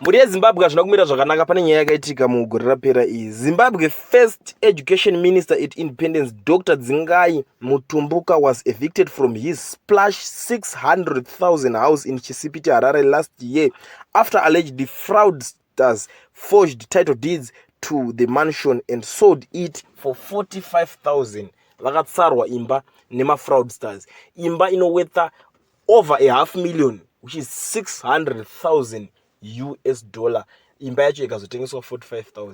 Mhuri yeZimbabwe hazvina kumira zvakanaka pane nyaya yakaitika mugore rapera iyi. Zimbabwe first education minister at independence Dr Dzingai Mutumbuka was evicted from his splash 600,000 house in Chisipiti Harare last year after allegedly fraudsters forged title deeds to the mansion and sold it for 45,000 vakatsarwa imba nemafraudsters imba inowetha over a half million which is 600000 us dollar imba yacho ikazotengeswa 45000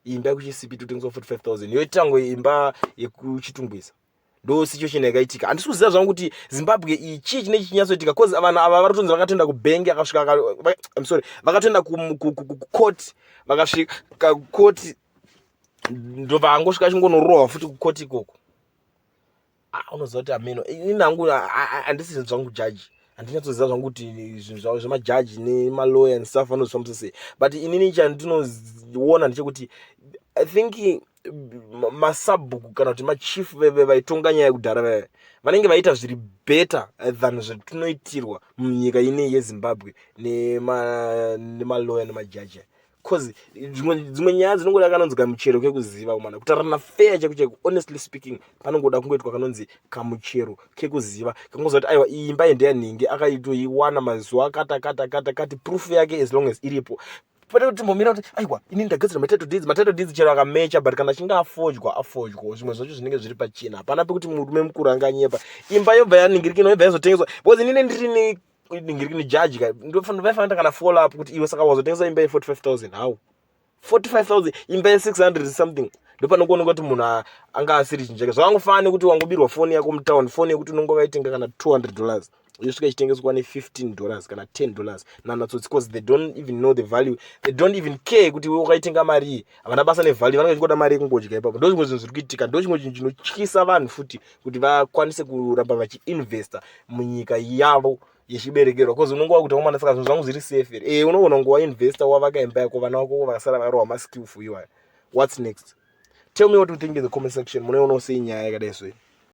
imba yekuchisipi totengeswa 45000 yoitango imba yekuchitungwiza ndo situation yakaitika handisi kuziva zvangu kuti zimbabwe iyi chii chine chichinyatsoitika bcause vanhu ava vari kutonzi vakatoenda kubhengi akasvika im sorry vakatoenda kucourt vakasvika kucourt ndovango svika chingonorohwa futi kucourt ikoko ah, unoziva kuti ameno ini nangu handisi zvinhu zvangu jaji handinyatsoziva zvangu kuti zvinhu zvavo zvemajaji nemaloya and stuff vanozvifambisa sei but inini chandinoona ndechekuti i think masabhuku kana kuti machief veve vaitonga nyaya yekudhara veve vanenge vaita zviri better than zvatinoitirwa munyika inei yezimbabwe nemaloya nemajaji cause dzimwe nyaya dzinongoda kanonzi kamuchero kekuziva umana kutarirana fair cheko cheko honestly speaking panongoda kungoitwa kanonzi kamuchero kekuziva kangoziva kuti aiwa iyi imba yendeya nhingi akaitoiwana mazuva kata kata kata kati proof yake as long as iripo pane kuti timbomira kuti aiwa ini ndagadzira matitle deeds matitle deeds chero akamecha but kana achinge afojwa afojwa zvimwe zvacho zvinenge zviri pachina hapana pekuti murume mukuru anganyepa imba yobva yaningirikina yobva yazotengeswa because inine ndiri ne ndiri kuni judge ka ndofanira fanira kana follow up kuti iwe saka wazotengesa imba ye 45000 how 45000 imba ye 600 something ndopano kuona kuti munhu anga asiri chinjeke zvakangofana kuti wangobirwa foni yako mutown foni yekuti unonge waitenga kana 200 dollars yosvika ichitengeswa ne 15 dollars kana 10 dollars nanatsotsi because they don't even know the value they don't even care kuti we wakaitenga marii havana basa nevalue vanenge vachikoda mari yekungodya ipapo ndo zvimwe zvinhu zviri kuitika ndo chimwe chinhu chinotyisa vanhu futi kuti vakwanise kuramba vachiinvesta munyika yavo yechiberekerwa bcause unonge wakuti wamwana saka zvinhu zvangu zviri safe here e eh, unoona kunge wainvesta wavaka imba yako vana vako vakasara varohwa maskill for you aya whats next tell me what you think in the comment section munoionawo sei nyaya yakadai so